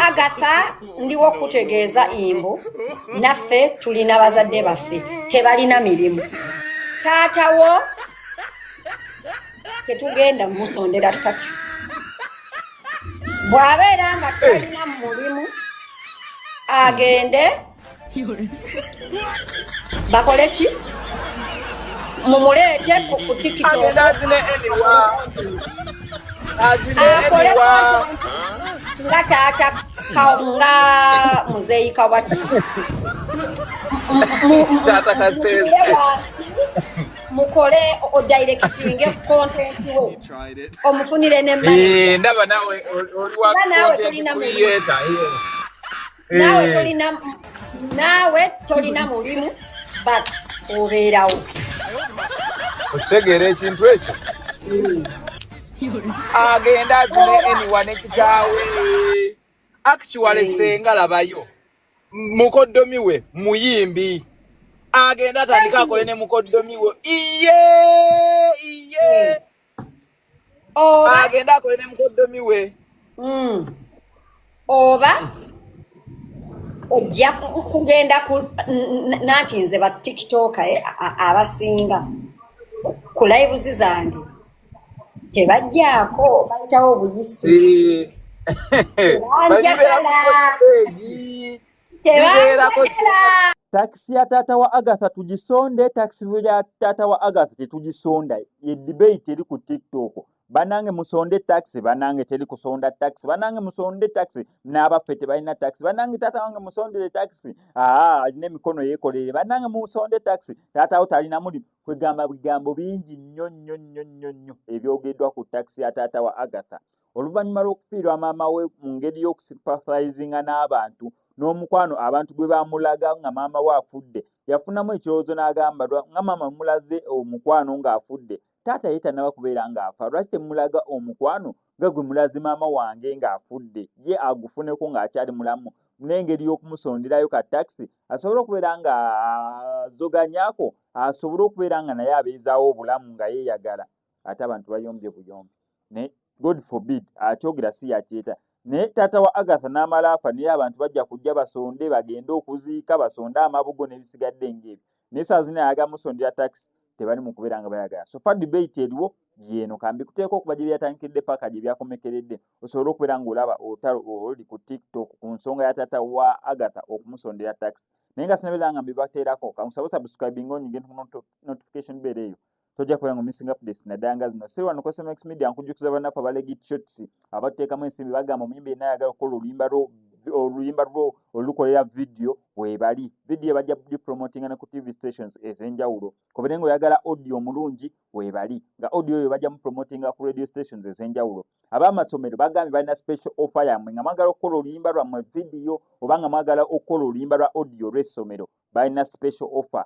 agatha ndiwo okukutegeeza imbu naffe tulina bazadde baffe tebalina mirimu taatawo tetugenda musondera takisi bw'abeera nga talina mu mulimu agende bakole ki mumuleete ku tikitoakole nga taata nga muzeeyi kawatu mukole odirectinge content wo omufunire ne eh, ndaba nawe nawe tolina nawe eh. tolina nawe tolina mulimu but obeerawo okitegeera ekintu ekyo hmm. agenda azine eniwa nekitaawe actuale senga labayo mukoddomi we muyimbi agenda atandika akole ne mukoddomi we iye iye agenda akole ne mukoddomi we hmm. oba ojja kugenda ku nanti nze ba tiktoka eh, abasinga ku lives zange tebajjaako bayitawo obuyisi banjagala tebanjagala takisi ya taata wa agatha tugisonde takisi ya taata wa agatha tetugisonda ye debate eri ku tiktok banange musonde taxi banange teri kusonda taxi banange musonde taxi n'abaffe tebalina taxi banange taata wange musondere taxi aa alina emikono yekolere banange musonde taxi taatawo talina mulimu kwegamba bigambo bingi nnyo nnyo nnyo nnyo nnyo ebyogeddwa ku takisi ya taata wa agatha oluvannyuma lw'okufiirwa maama we mu ngeri y'okusipathalizinga n'abantu n'omukwano abantu gwe bamulaga nga maama we afudde yafunamu ekirowoozo n'agamba nga maama mulaze omukwano ng'afudde taata ye tanaba kubeera ng'afa lwaki temulaga omukwano nga gwe mulaze maama wange ng'afudde ye agufuneko ng'akyali mulamu n'engeri y'okumusonderayo ka takisi asobole okubeera nga azoganyako asobole okubeera nga naye abeezaawo obulamu nga yeeyagala ate abantu bayombye buyombi naye god forbid akyogera si yakyeta naye taata wa agatha n'amala afa naye abantu bajja kujja basonde bagende okuziika basonde amabugo n'ebisigadde ng'ebyo naye saa zina ayaga musondera tax tebali mukubeera nga bayagala so far debate eriwo gyeno kambi kuteeka okuba gye byatandikidde paka gye byakomekeredde osobole okubeera ng'olaba otalo oli ku tiktok ku nsonga ya tata wa agatha okumusondera tax naye nga sinabeera nga mbibateerako kankusaba subscribing onyige notification beera eyo tojja kubera nga missing updates naddala nga zino siri wano kusoma x media nkujjukiza bannaffe abalegi shots abateekamu ensimbi bagamba omuyimbi yenna ayagala okukola oluyimba lwo oluyimba lwo olukolera vidiyo webali vidiyo bajja dipromotinga ne ku tv stations ez'enjawulo kubere nga oyagala audio omulungi webali nga audio oyo bajja mupromotinga ku radio stations ez'enjawulo ab'amasomero bagambye balina special offer yammwe nga mwagala okukola oluyimba lwammwe vidiyo oba nga mwagala okukola oluyimba lwa audio olw'essomero balina special offer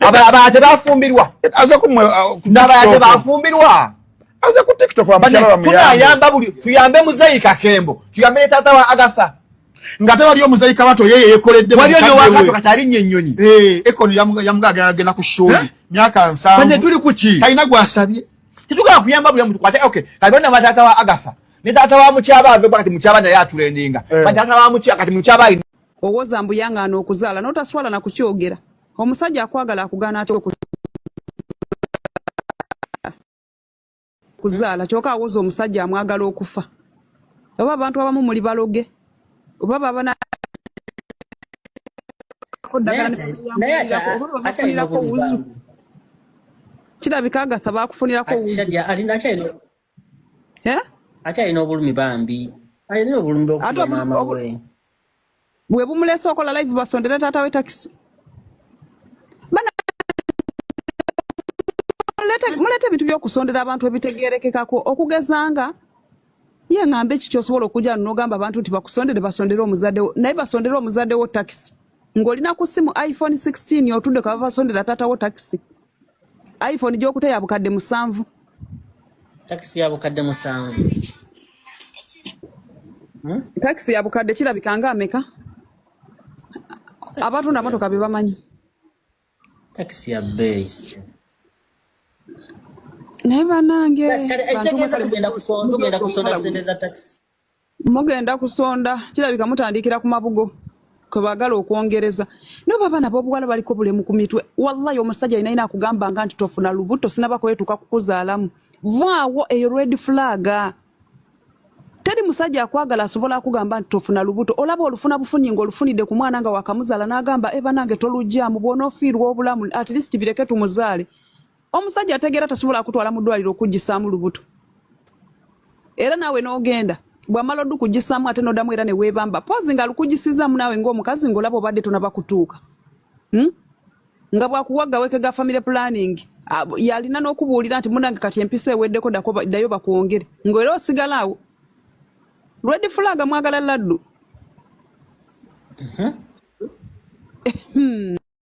abaate bafumbirwa nabaate bafumbirwa tunayamba buli tuyambe muzeyi kakembo tuyambe tata wa agatha ngate waliyo muzeyi kabato yeye yekoledde waliyo newakato kati alinnya ennyonyi eh, ekono yamugagenda ku shoyi eh? myaka nsanvu tuli kuki talina gwasabye titugala kuyamba buli omuntu kwate okay kati bonna batata wa agatha ne tata wa mukyaba ave kati mukyaba naye atulendinga eh. batata wa mukyaba kati mukyaba owoza mbu yang'aana okuzaala n'otaswala na kukyogera omusajja akwagala akugaana atya okuzaala kyoka awoza omusajja amwagala okufa oba abantu abamu muli baloge oba babana kirabika agatha bakufunirako wuzu ate alina obulumi bambi alina obulumi bwokufuga maama we bwe bumulese okola live basondere taata we takisi muleeta ebintu byokusondera abantu ebitegerekekako okugeza nga ye ŋambe eki kyosobola okuja nogamba abantu nti bakusondere basondere omuzadewo naye basondere omuzadewo takisi ng'olina ku simu iphone 16 otudde kaba basondera taatawo takisi iphone gyokuta ya bukadde musanvu takisi ya bukadde musanvu hmm? takisi ya bukadde kirabika nga ameka abatunda motoka bebamanyi takisi ya beeyi naye banange tugenda kusonda sente za takisi mugenda kusonda kirabika mutandikira ku mabugo kwebagala okwongereza naye oba abaana bobuwala baliko bulemu ku mitwe wallahi omusajja yina yina akugambanga nti tofuna lubuto sinaba kwetuuka kukuzaalamu vaawo eyo red flag teri musajja akwagala asobola akugamba nti tofuna lubuto olaba olufuna bufunyi nga olufunidde ku mwana nga wakamuzala n'agamba ebanange eh, tolugyamu bwonoofiirwa obulamu at least bireke tumuzaale omusajja ategeera tasobola akutwala mu ddwaliro okuggisaamu lubuto era naawe n'ogenda bwamala odukuggisaamu ate n'oddamu era ne weebamba poozi nga alukuggisizaamu naawe ng'omukazi ng'olaba obadde tonaba kutuuka hmm? nga bwakuwa gaweke ga family planning yalina n'okubuulira nti munange kati empisa eweddeko ddayo bakwongere ng'era osigalaawo lwedi fulaga mwagala laddu hmm.